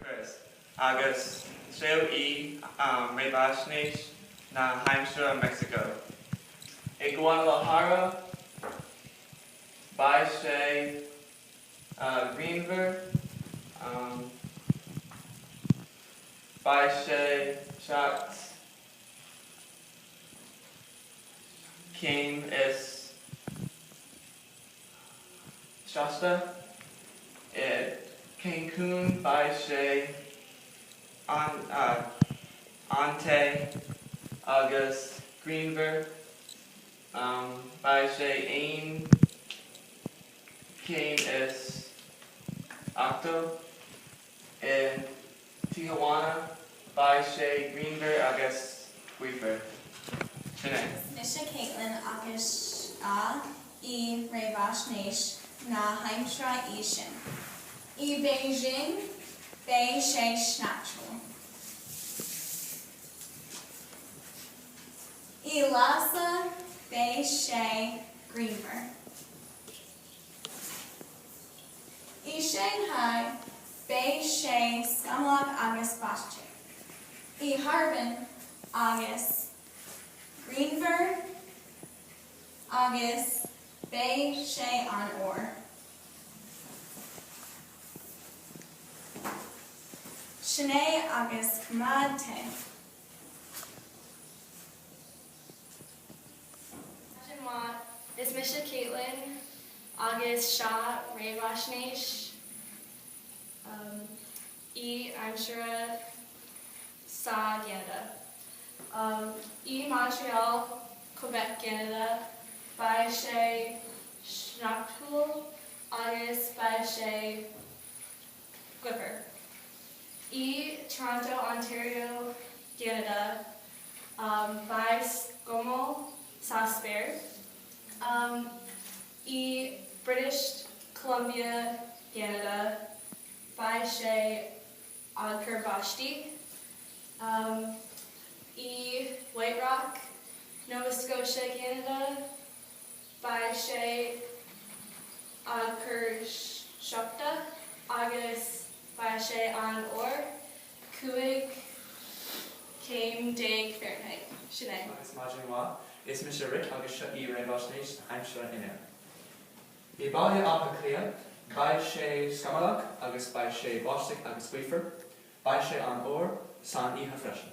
Chris, agus seo í réamhaisnéis na haimsire i Meicsiceo. I Guadalajara beidh sé grianmhar, beidh sé seacht. céim is seasta i Cancún beidh sé an-te agus grianmhar. Beidh sé aon chéim is ochtó i. Tijuana, beidh sé grianmhar agus gaofar. Sin é. Mise Caitlin agus seo í réamhaisnéis na haimsire sa tSín. I Beijing beidh sé sneachtúil. I Lása beidh sé grianmhar. I Shanghai beidh sé scamallach agus báisteach, i Harbin agus grianmhar agus beidh sé an-fhuar. Sin é agus coimeád te. Tá sé maith. Is mise Caitlin agus seo réamhaisnéis na haimsire sa gCeanada. I Montreal, Quebec gCeanada, beidh sé sneachtúil agus beidh sé gaofar. I Toronto, Ontario gCeanada, Beidh scamall sa spéir. I British Columbia, gCeanada, beidh sé ag cur báistí. I White Rock, Nova Scotia, gCeanada. Beidh sé ag cur sneachta agus beidh sé an-fhuar cúig céim déag Fahrenheit. Sin é. Agus maidin mhaith, is mise Rick agus seo í réamhaisnéis na haimsire inniu. I mBaile Átha Cliath, beidh sé scamallach agus beidh sé báisteach agus gaofar. Beidh sé an-fhuar san oíche freisin.